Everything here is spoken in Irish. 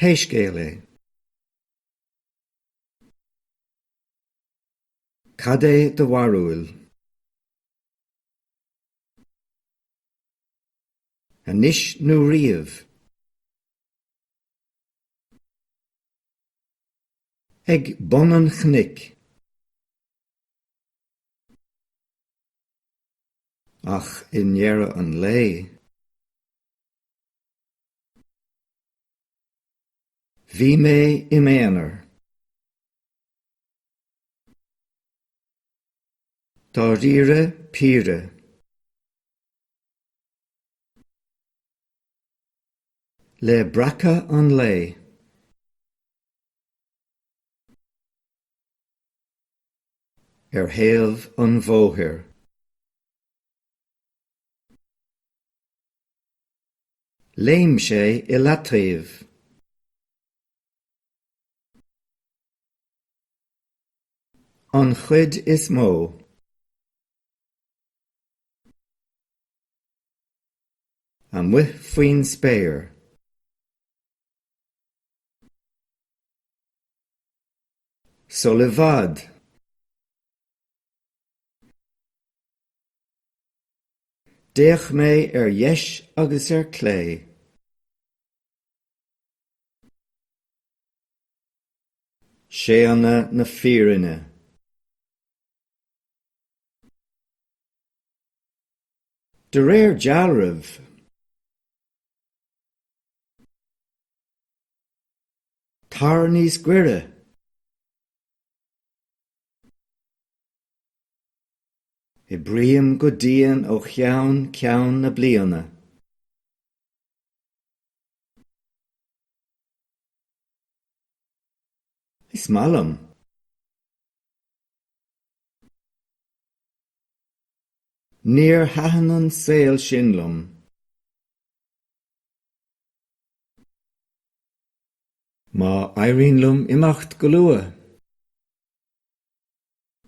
Pé scéal é, cad é do bharúil? Anois nó riamh? Ag bun an chnoic. Ach i ndeireadh an lae, bhí mé i m'aonar. Dáiríre píre. Le breacadh an lae. ar thaobh an bhóthair. Léim sé i leataobh. An chuid is mó. Amuigh faoin spéir. Sul i bhfad. D'fhéach mé ar dheis agus ar clé. Séanadh na fírinne. De réir dealraimh. Tar níos goire! Oibrím go dian ó cheann ceann na bliana. Is maith liom. Níor thaitin an saol sin liom. Má éiríonn liom imeacht go luath.